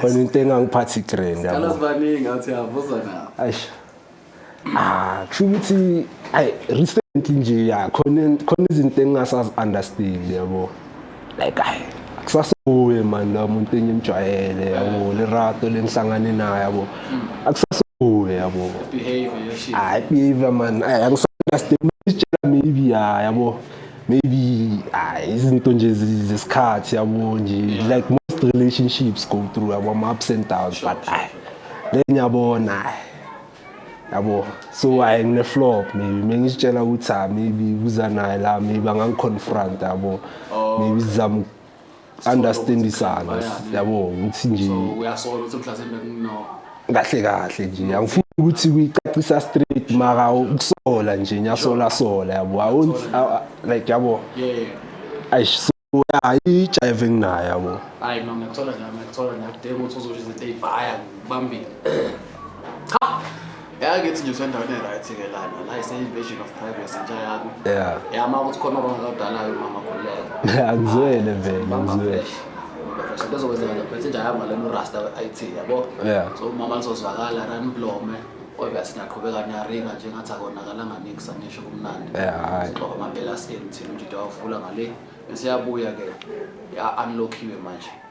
khona into engangiphathi grand yabo sibaningi ngathi yavuza na ayish ah kusho ukuthi ay recently nje ya khona khona izinto engingasazi understand yabo like ay akusasobuye man la muntu engimjwayele yabo le rato lengihlangane naye yabo akusasobuye yabo behavior yeshit ay behavior man ay angisaunderstand isitshela maybe ya yabo maybe ah, izinto nje zi- zesikhathi yabo nje like most relationships go through yabo ama-ups and downs but ayi le ngiyabona ayi yabo so ayi ngine-flop maybe mengizitshela ukuthi ah maybe kuza naye la maybe angangi-confront yabo maybe zizama understandisana yabo ngithi nje uyasola ukuthi mhlasimbe kuno kahle kahle nje angifuni ukuthi kuyicacisa straight maka ukusola nje nyasola sola yabo awuthi like yabo ayish so hayi jive enginayo yabo hayi no ngiyakuthola nje ngiyakuthola ngiyakudela ukuthi uzosho izinto ezibhaya kubambile cha yakithi nje usendaweni e-right ke lana la is invasion of privacy nje yakho yeah yama ukuthi khona abantu abadalayo mama khuleka angizwele vele angizwele so lezo kwenzeka lapho ethi nje ayama lena urasta IT yabo yeah so umama lizozwakala run blome obe sinaqhubeka niyaringa nje ngathi akonakalanga nix angisho kumnandi yeah xoba amampela skin thina umjida wavula ngale bese yabuya ke ya unlockiwe manje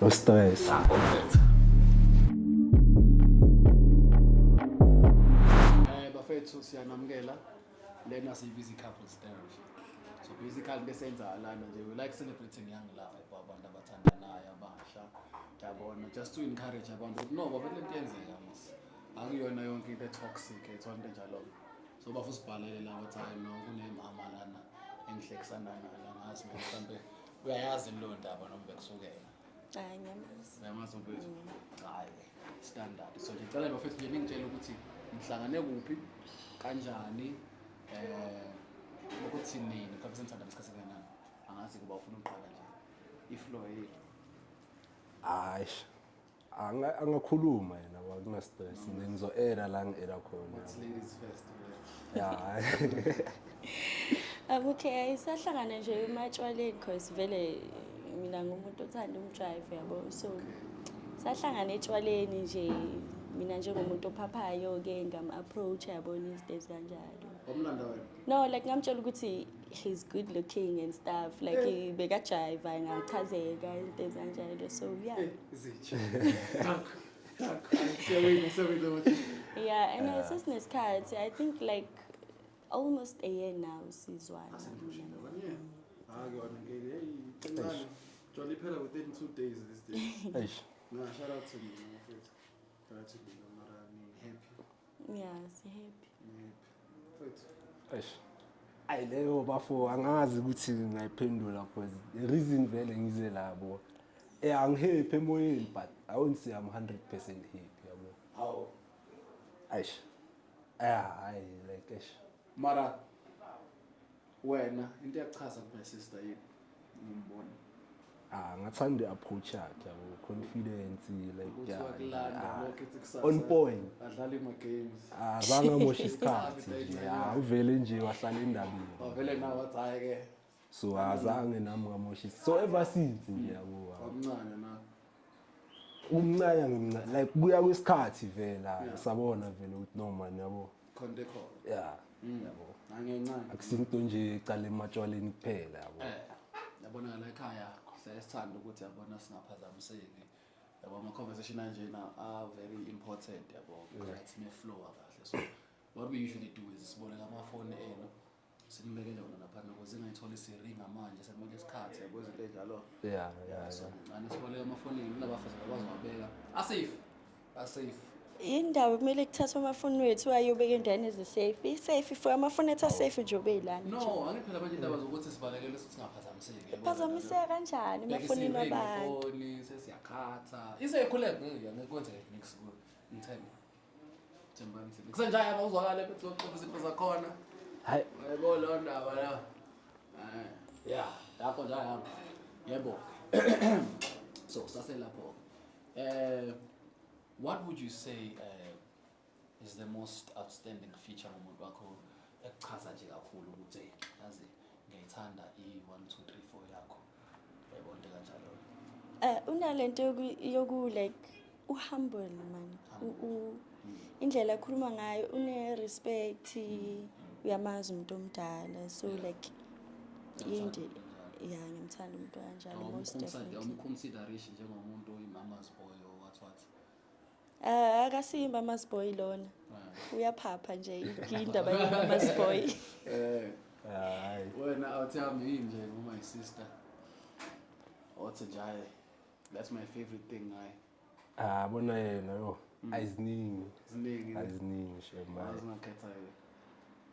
no stress Eh bafethu siyanamukela lena siyibiza i-couples therapy so basically into esenza lana nje we like celebrating young love abantu abathandanayo abasha yabona just to encourage abantu ukuthi no bafethu lento yenzeka mas akuyona yonke into etoxic ethwa into enjalo so bafu sibhalele la ukuthi hayi no kunemama lana engihlekisana nayo la ngazi mhlawumbe uyayazi leyo ndaba noma bekusukela hayi ngiyamazi ngiyamazi mfethu mm. hayi standard so ngicela bafethu nje ningitshele ukuthi ngihlangane kuphi kanjani eh ukuthi nini ngikhabe sengithanda isikhathi kanjani angazi kuba ufuna ukuqala nje iflow yethu hayi Anga- angakhuluma yena ngoba kunastress nje ngizo-era la ngi-era khona It's ladies first. yeah. Ya. Okay, ayisahlangana nje ematshwaleni cause vele mina ngumuntu othanda umdrive yabo. So sahlangana etshwaleni nje mina njengomuntu ophaphayo ke ngam approach yabo these days kanjalo. Wamlanda wena. No, like ngamtshela ukuthi he's good looking and stuff like eh. bekajayiva ngachazeka into ezinjalo so yeah eh, zitshe yeah and uh, sesinesikhathi i think like almost a year now sizwana jolly phela within two days these days nah shout out to me shout out to me Yeah, sihappy. Mfethu. Eish. Ayi leyo bafo angazi ukuthi ngayiphendula because the reason vele ngize labo. Eh angihappy emoyeni but I won't say I'm 100% happy yabo. Hawu. Eish. Ah, ayi like eish. Mara Wena into eyakuchaza ku my sister yini? Ngimbona. Ah, ngathanda i-approach yakhe yabo confidence like Ukuthi yeah. wakulanda ah, lokho ethi kusasa. On point. Adlala ima games. Ah, zange amoshe isikhathi nje. Ah, uvele nje wahlala endabeni. Wavele nawe wathi hayi ke. So azange nami ngamoshe. So ever since nje yabo. ah. Wamncane na. Umncane ngimncane like kuya kwesikhathi vela Yeah. sabona vele ukuthi no man yabo. khonde khona ya mm. yabo nangencane akusinto nje cala ematshwaleni kuphela yabo eh yabona la ekhaya sesithanda ukuthi yabona singaphazamiseki yabo ama conversation anjena are very important yabo right ne flow kahle so what we usually do is siboleka amafoni enu Simbekele wona lapha noko zingayitholi siringa manje sekumele isikhathi yabo izinto enjalo. Yeah, yeah. So ngicane siboleka amafonini kunabafazi bakwazi wabeka. Asafe. Asafe. Indawo kumele kuthathwe amafoni wethu ayobeka endaweni ezisafe. Isafe for amafoni ethu asafe nje obeyilana. No, angithi phela manje indaba zokuthi sibalekele ukuthi singaphazamiseki. yabo. Phazamiseka kanjani Bheka amafonini isiringi, abantu? ifoni, sesiyakhatha. Isekhuleke ngiya ngikwenzele next kuyo. Ngithemba. Thembani thina. Kusenjaya mawuzwakala ethi uzoxoxa izinto zakhona. Hayi. Yebo lo ndaba la. Eh. Ya, lapho nje ayihamba. Yebo. So saselapho. Eh what would you say eh is the most outstanding feature ngomuntu wakho ekuchaza nje kakhulu ukuthi yazi ngiyayithanda i 1 2 3 4 yakho? Eh, unalento yoku like uhumble man indlela akhuluma ngayo une-respect uyamazi umuntu omdala so like yinde ya ngimthanda umuntu kanjalo most definitely Ah, akasiyi mama's boy lona uyaphapha nje indaba yemama's boy Eh, Hayi. wena awuthi hamba yini nje ngo my sister othi nje hayi that's my favorite thing ngaye Ah, bona yena yo. Ayiziningi. ziningi Ayiziningi shema. zingakhethayo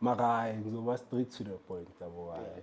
Makayi ngizoba straight to the point yabo hayi.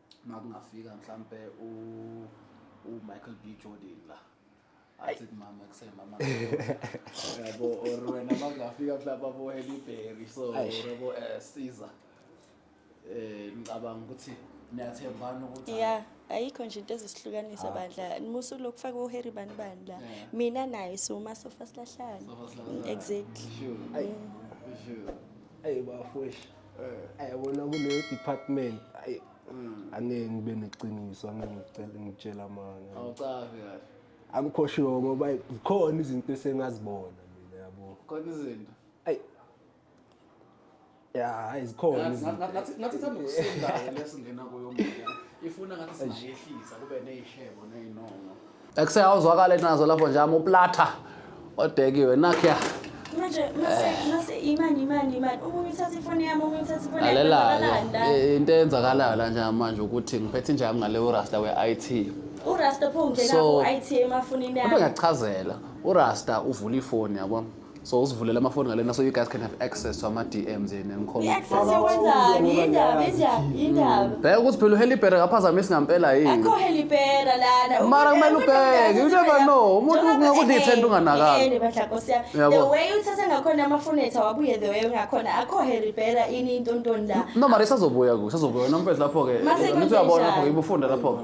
makungafika mhlampe u u Michael B Jordan la athi kumama kusemama yabo or wena makungafika mhlawumbe abo Halle Berry so yabo eh, Caesar eh ngicabanga ukuthi niyathembana ukuthi ya ayikho nje into ezisihlukanisa ah. bandla musu lokufaka uHarry bani bani la mina naye suma sofa silahlana exactly sure sure ayi bafwesh ayabona kuleyo department ayi mm. angeke ngibe neqiniso angeke ngicele ngitshela amanga awucabi kahle angikho sure ngoba zikhona izinto esengazibona mina yabo khona izinto ayi ya hayi zikhona ngathi thanda ukusinda lesingena kuyo mbuya ifuna ngathi singayehlisa kube neyishebo neyinono Ekuse awuzwakale nazo lapho nje ama uplata odekiwe nakya. Manje mase mase imani imani imani umuntu uthatha ifoni yami umuntu uthatha ifoni yami. Lalela into eyenzakalayo la nje manje ukuthi ngiphethe nje yami ngale urasta we IT. Urasta pho ngena ku IT emafonini yami. Kodwa ngiyachazela urasta uvula ifoni yabo. so usivulela amafoni ngalena so you guys can have access to ama-dms yena nikhona I-access yokwenzani? Yindaba, yindaba, yindaba. bheka ukuthi phela uhelibhere kaphazamisi ngampela yini Akho helipera lana. Mara kumele ubheke, you never know. Umuntu kungakuthi ithenda unganakanga. Yabo. The way uthatha ngakhona amafunetha wabuye the way ungakhona akho helipera ini intontoni la. no mara isazobuya ku isazobuya wena mfethu lapho-ke Mase nithi uyabona kwenzenjani? lapho-ke ibufunda lapho-ke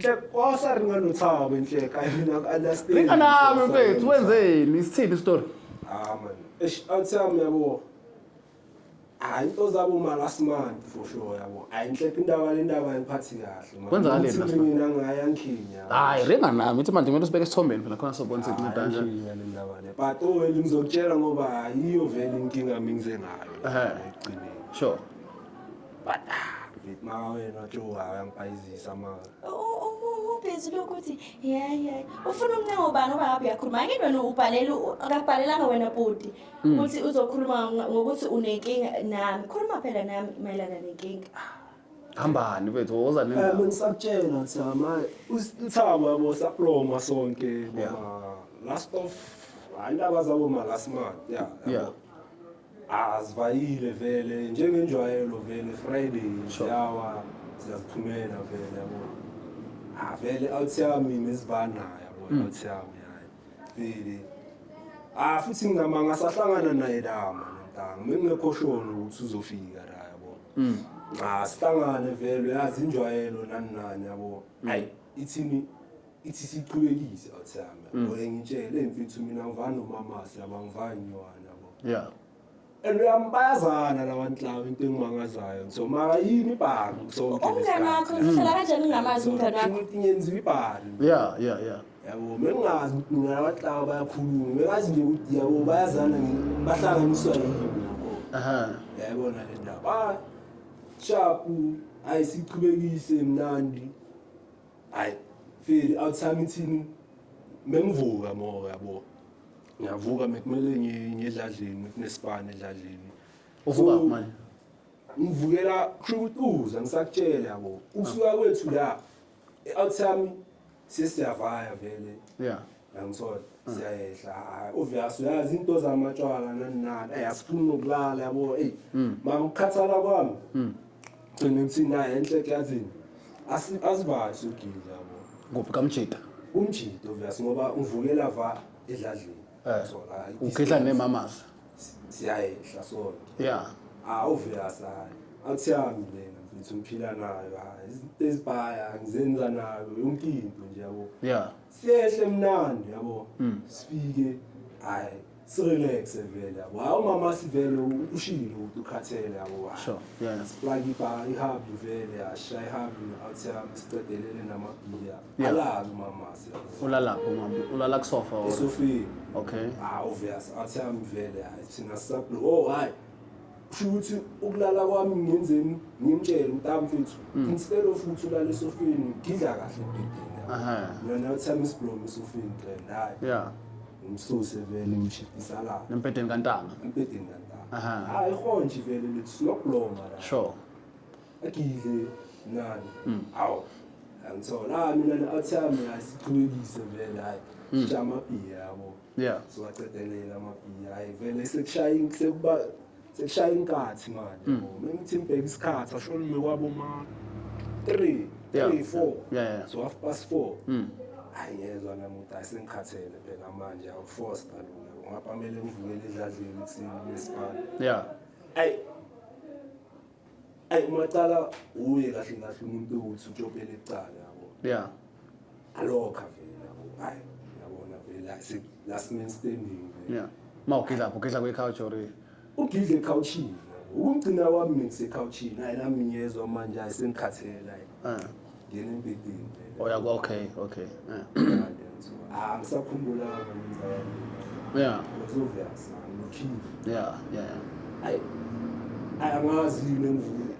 Nhlekhosa ri nga no tshava nhleka yona ku understand. Ri nga nami mfethu wenzeni isithini story? Ah man. Eish athi yami yabo. Hayi into zabo ma last month for sure yabo. Hayi nhlekho indaba le ndaba ayiphathi kahle man. Kwenzakale last month. Mina ngaya ngikhinya. Hayi ri nga nami uthi manje kumele usibeke esithombeni phela khona sobona ukuthi kunceda kanjani. Ngikhinya le ndaba le. But oh ngizokutshela ngoba yiyo vele inkinga mingize ngayo. Ehhe. Ekugcineni. Sure. bada Vithi maka wena watshuka uyangibhayizisa maka. ubhizi lokuthi yeyi yeyi ufuna umncengo ubani oba ngabe uyakhuluma angini wena ubhalela u- akakubhalelanga wena bhuti Mm. ukuthi uzokhuluma ngo- ngokuthi unenkinga nami khuluma phela nami mayelana nenkinga hambani bethu woza Eh, nendaba bengisakutshela Thama, usithama yabo saploma sonke Yeah. boma last of andaba zabo malasmart yeah Yeah. yabo. Azivayile vele njengenjwayelo vele Friday siyawa siyaziphumela vele yabo. Ah vele awuthiya mina isibanayo yabo Mm. awuthiya uyayi. Vele. Ah futhi ngama ngasahlangana naye lama ntanga. Mengekho sure ukuthi uzofika la yabo. Mm. Ah sihlangane vele yazi injwayelo nani nani yabo. Ayi ithini ithi siqhubekise othanga mm. ngoye ngitshele mfethu mina ngivana nomamasi laba ngivana nywana bo yeah and uyam bayazana labantu laba into engimangazayo so maka yini ibhaka kusonke umngane wakho uhlala kanjani unamazi umngane wakho ukuthi ngenziwa ibhaka yeah yeah yeah yabo mengazi ukuthi mina abantu laba bayakhuluma mengazi nje ukuthi yabo bayazana bahlanganiswa yini aha yayibona le ndaba ah, shapu ayisiqhubekise mnandi hayi feel athi sami thini mengivuka moya yabo ngiyavuka mekumele ngiyedladlini kunesibani edladlini uvuka So, manje ngivukela khulukutuza ngisakutshela yabo usuka kwethu la e-out sami sesiyavaya vele yeah yangithola siyayehla hayi obvious uyazi into zamatshwala nani nani eyi asifuni nokulala yabo eyi mama ukukhathala kwami gcine ukuthi naye enhle eklazini Asi- asivali sugile yabo kuphi kamjita umjito obvious ngoba uvukela va edladleni Eh. So, hayi, ukhehla nemamazi siyayehla sona ya Ah, obvious hayi. Akuthami lena mfethu ngiphila nayo hayi. Izinto ezibhaya ngizenza nayo yonke into nje yabo. ya sehle mnandi yabo hmm. sifike hayi sirelaxe vele yabo hayi umama sivele ushilo ukuthi ukhathele yabo sure yeah siplug iba ihub vele yasha ihub athi amsicedelele namabiya alala umama yabo ulala umama ulala kusofa or sofa okay ah obvious athi amvele hayi thina sablo oh hayi kusho ukuthi ukulala kwami ngenzeni ngimtshele ukuthi ah mfethu mm. instead of ukuthi ulale esofeni ngidla kahle ebhedini yona uthama isiblomo esofeni qela hayi ya ngimsuse vele ngimshidisa la empedeni kantanga empedeni kantanga hayi ihonji vele lithi sinokubloma la sure agidle nani mm. awu angithola ah, mina athi ami asiqhubekise vele hayi mm. jama bhiya yabo yeah siwacedelela amabhiyi hayi vele sekushaya sekuba sekushaya inkathi manje mm. uma ngithi ngibheka isikhathi asho nime kwabo ma 3 3 4 yeah so half past 4 mm ayezwa namuntu asengikhathele phela manje awuforce kalula ungapamele ngivukele edladleni kusini nesibani yeah ayi ayi umacala uye kahle kahle umuntu ukuthi utshopele icala yabo yeah alokha vele yabo hayi yabona vele la si last man standing vele yeah mawugidla ugidla kwe couch or ugidla ecouchini ukumgcina wami ngisecouchini hayi nami ngiyezwa manje ayisengikhathele hayi ah. ngena empilini oh yeah okay okay yeah ah ngisakhumbula ngenza yeah uzovela sana nokhini yeah yeah ay angazi nengivule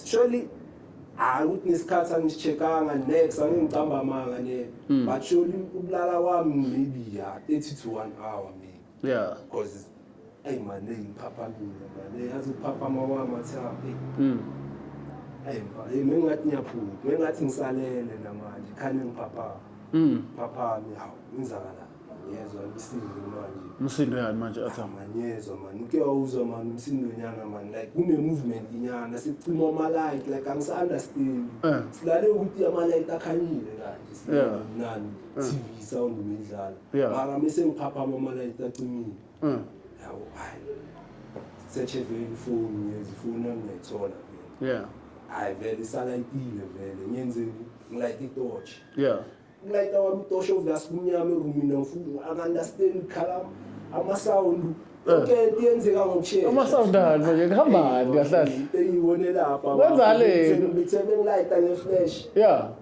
surely hayi ukuthi nesikhathi angicheckanga next angicamba amanga ne hmm. but surely ubulala kwami maybe ya 30 to 1 hour maybe yeah cause ayi mane ngiphaphakile mane yazi uphaphama wami athi happy mm ayi mfana mengathi ngiyaphupha mengathi ngisalele namanje khane ngiphaphama mm phaphami hawu inzakala ngiyezwa umsindo manje umsindo yani manje athi ngiyezwa mani uke wawuzwa mani umsindo nyana mani like kune movement nyana sicima ama light like angisi understand eh. silale ukuthi ama light akhanyile kanje sinani eh. TV sound imidlalo Yeah. mara mi sengiphaphama amalayithi acimile Mm. yawo hayi search vele ifoni ngezi ifoni yami ngayithola vele Yeah. hayi vele isalayitile vele ngenzeni ngilayite itoshi Yeah. ulayita wami itoshi obvious kumnyama erumini angifuni akandastendi khala amasound yonke into yenzeka ngokushesha Uma sound ani manje kuhambani kahle kahle? Into engiyibone lapha Kwenzani? ngithe bengilayita ngeflash Yeah.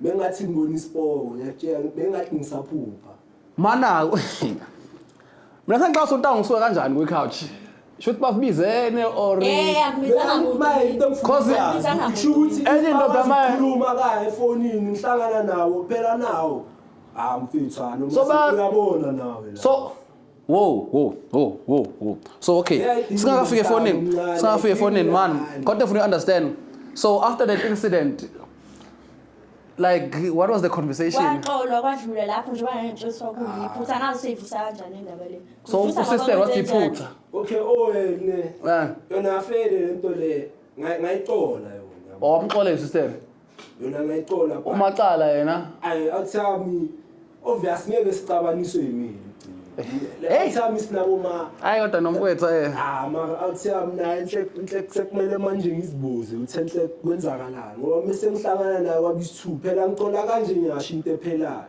Bengathi ngibona isipowo ngiyakutshela bengathi ngisaphupha. Mana Mina sengicabanga ukuthi ngisuka kanjani kwi couch. Should bafibizene or Eh akubizanga muntu. Maye into Cause- engifuna kusho ukuthi Enye indoda maye- khuluma kaye efonini ngihlangana nawo phela nawo. Ah mfethu ah noma So ba- uyabona nawe la. so Wo wo wo wo wo. So okay. Singakafika efonini. Singakafika efonini man. Kodwa ufuna understand. So after that incident like what was the conversation kwaxolwa kwadlula lapho njengoba ngentshosi kwakuyiphutha ah. ngazi seyivusa kanjani indaba le so usister wathi iphutha okay owene oh, eh. yona afele lento le ngayixola yona wamxola oh, isister yona ngayicola bha. umacala yena Ay, awuthami obvious ngeke sixabaniswe yimina Le Hey. awuthami sinabo ma hayi kodwa nomkwethu eh Ah, ma awuthami naye nhle nhle sekumele manje ngizibuze uthe nhle kwenzakalani ngoba mese ngihlangana naye kwabisithu phela ngicola kanje ngiyasho into ephelayo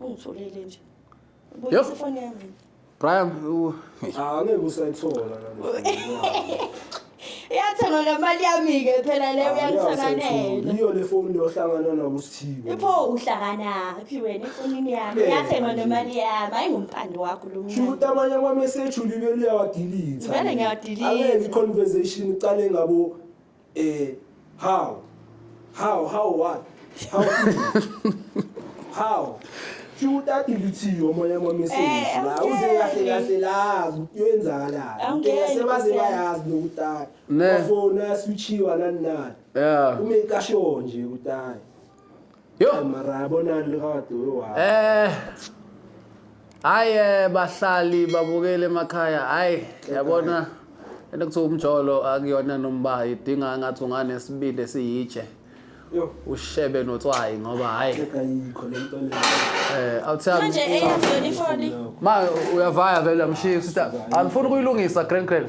Ungitholile nje. Yep. Ubuyisa ifoni yami. Brian u- Ah, angeke usayithola kanti. Iyathengwa ngemali yami-ke phela leyo uyangisanganela. Yiyo le phone yohlangana nabo sithiwe. Ipho uhlanganaphi wena efonini yami? Eh. Iyathengwa nemali yami. Hayi ngumpando wakho lo Shukuthi mncane. amanye ama message ulibe liyawadelete. Vele ngiyawadelete. Angeke i conversation iqale ngabo Eh how? How how what? How? how? Chuta ilithiyo moya wamesini. Eh, La okay. uze kahle kahle la kuyenzakala. Angeke, Ngeke sebaze ngeke. bayazi nokutaka. Ne. Bafona switchiwa nanani. Yeah. Ume kasho nje kutaka. Yo. Eh, mara yabonani likade wewa Eh. Hayi eh, bahlali babukele emakhaya. Hayi yabona into kuthiwa umjolo akuyona nombayi idinga ngathi unganesibindi esiyitshe. yo Ushebe notswayi ngoba hayi hleka yikho le nto le eh awuthandi. Manje eyenziwe ifoni. Ma uyavaya vele amshiyi sister. Angifuni kuyilungisa grand grand.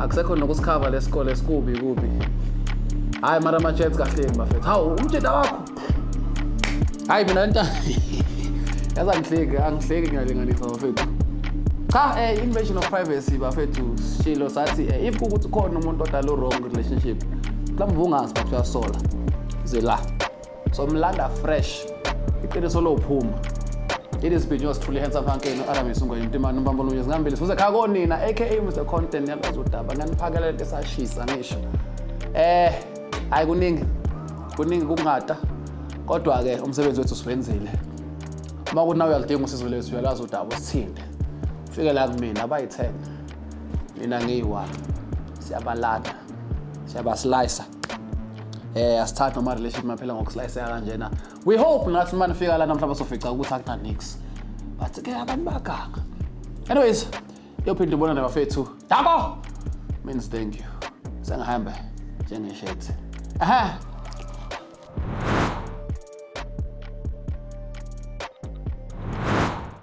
akusekho nokusikhava lesikole sikubi kubi hayi mara ama-jets kahleni bafethu hawu umjeda wakho hayi mina lenta yazi angihleki angihleki ngiyalinganisa bafethu cha eh, invasion of privacy bafethu shilo sathi eh, if kukuthi khona umuntu odala u-wrong relationship mhlawumbe ubungazi bathi uyasola ze la so mlanda fresh iqiniso lophuma It is Binyos Thuli Handsome Hanke no Aramis Ngoyi Mtimani Mbambo Lunyezi ngambili sibuze khaya konina aka Mr Content yalwazi udaba nganiphakela lento esashisa ngisho eh hayi kuningi kuningi kungata kodwa ke umsebenzi wethu siwenzile uma kuthi nawe uyalidinga usizo lethu uyalazi udaba usithinte fike la kumina abayithenga mina ngiyi-one siyabalanda siyabasilisa eh asithathe ama relationship maphela ngokuslayiseka kanjena we hope nathi uma nifika la namhlanje sofica ukuthi akuna nix but ke abantu baganga anyways yophinda ubona nabafethu dabo means thank you sengihamba njengeshethi aha